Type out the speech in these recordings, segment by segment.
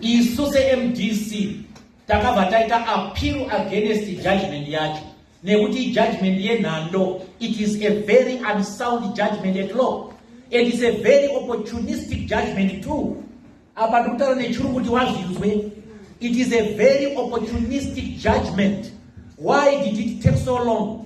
isu semdc takabva taita appeal against judgment yacho nekuti ijudgment yenhando it is a very unsound judgment at law and is a very opportunistic judgment too apa ndikutaura nechuru kuti wazvinzwe it is a very opportunistic judgment why did it take so long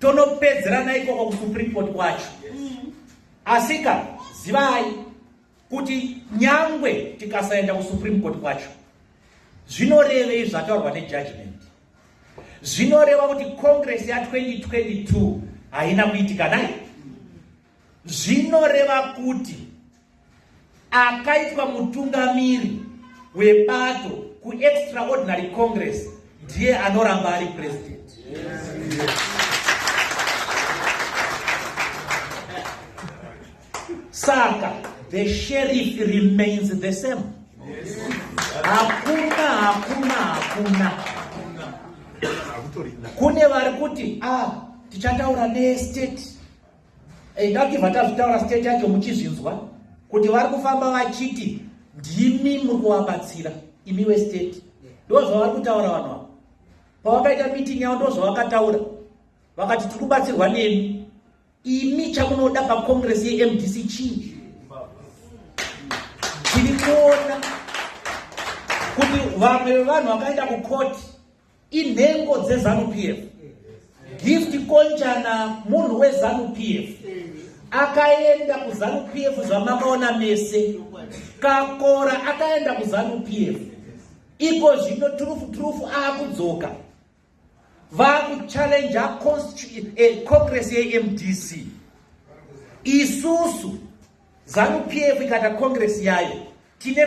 tonopedzerana ikoko kusupreme court kwacho asika zivai kuti nyangwe tikasaenda kusupreme court kwacho zvinorevei zvataurwa nejudgment zvinoreva kuti congress ya 2022 haina kuitika nai Zvinoreva kuti akaitwa mutungamiri webato kuextraordinary congress ndiye anoramba ari president. Saka the sheriff remains the same. Hakuna, hakuna, hakuna. Kune vari kuti ah, tichataura nestate Hey, ndakibva tazvitaura state yacho muchizvinzwa kuti vari kufamba vachiti ndimi muri kuvabatsira imi westate ndo zvavari kutaura vanhu avo pavakaita meeting yavo ndo zvavakataura vakati tiri kubatsirwa nemi imi chamunoda pacongress yemdc chii tiri kuona kuti vamwe vevanhu vakaenda kukoti inhengo dzezanu pf gift konjana munhu wezanu pf akaenda kuzanu pf zvamakaona mese kakora akaenda kuzanu pf iko zvino turufu turufu akudzoka vakuchallenja eh, congress yemdc isusu zanu pf ikata congress yayo tine